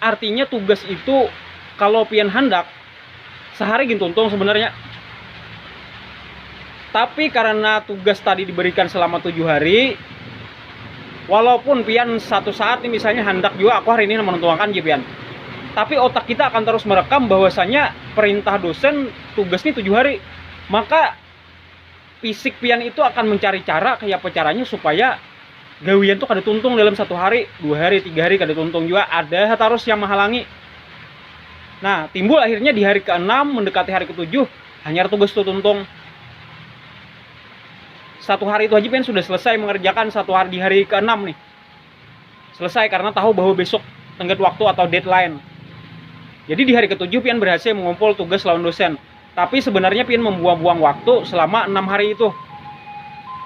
Artinya tugas itu kalo pian handak sahari gin tuntung sebenarnya. Tapi karena tugas tadi diberikan selama tujuh hari, walaupun pian satu saat nih misalnya handak juga aku hari ini menuntungakan je pian. Tapi otak kita akan terus merekam bahwasanya perintah dosen tugas nih tujuh hari. Maka Fisik pian itu akan mencari cara kayak apa caranya supaya gawian tuh kada tuntung dalam satu hari, dua hari, tiga hari kada tuntung juga ada harus yang menghalangi. Nah, timbul akhirnya di hari keenam mendekati hari ketujuh hanya tugas tuh tuntung. Satu hari itu aja pian sudah selesai mengerjakan satu hari di hari keenam nih. selesai karena tahu bahwa besok tenggat waktu atau deadline. Jadi di hari ketujuh pian berhasil mengumpul tugas lawan dosen. Tapi sebenarnya pian membuang-buang waktu selama enam hari itu.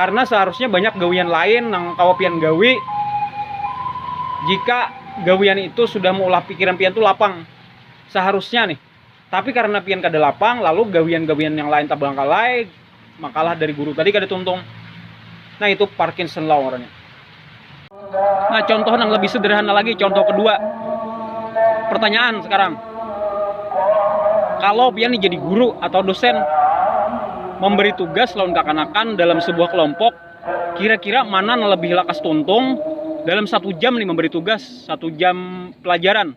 Karena seharusnya banyak gawian lain yang kawa pian gawi. Jika gawian itu sudah mengolah pikiran pian tuh lapang. Seharusnya nih. Tapi karena pian kada lapang, lalu gawian-gawian yang lain tabangkalai, makalah dari guru tadi kada tuntung. Nah itu Parkinson law ngarannya. Nah contoh yang lebih sederhana lagi, contoh kedua. Pertanyaan sekarang. Kalau pian jadi guru atau dosen, memberi tugas lawan kakanakan dalam sebuah kelompok, kira-kira mana yang lebih lakas tuntung dalam satu jam nih memberi tugas, satu jam pelajaran.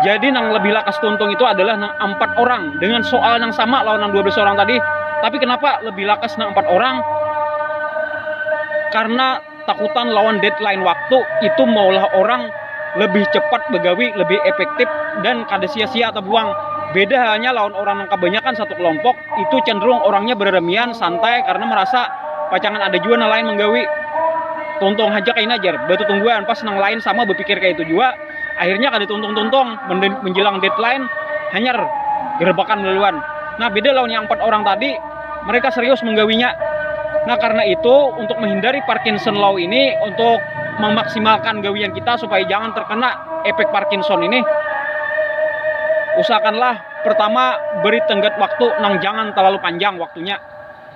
Jadi nang lebih lakas tuntung itu adalah nang empat orang dengan soal yang sama lawan nang 12 orang tadi. Tapi kenapa lebih lakas nang empat orang? Karena takutan lawan deadline waktu itu maulah orang lebih cepat begawi, lebih efektif dan kada sia-sia atau buang. Beda halnya lawan orang yang kebanyakan satu kelompok, itu cenderung orangnya beramian, santai karena merasa pacangan ada jua nang lain menggawi. tuntung haja kaina jar batutungguan pas nang lain sama bapikir kaya itu jua akhirnya kada tuntung-tuntung menjelang deadline hanyar gerebakan laluan nah beda lawan yang empat orang tadi mereka serius menggawinya nah karena itu untuk menghindari Parkinson law ini untuk memaksimalkan gawian kita supaya jangan terkena efek Parkinson ini usahakanlah pertama beri tenggat waktu nang jangan terlalu panjang waktunya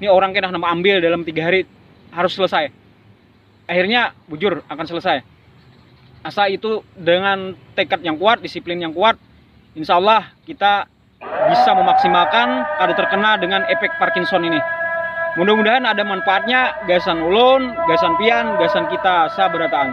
ini orang kena nama ambil dalam tiga hari harus selesai akhirnya bujur akan selesai asa itu dengan tekad yang kuat disiplin yang kuat insya Allah kita bisa memaksimalkan kada terkena dengan efek Parkinson ini mudah-mudahan ada manfaatnya gasan ulun gasan pian gasan kita sabarataan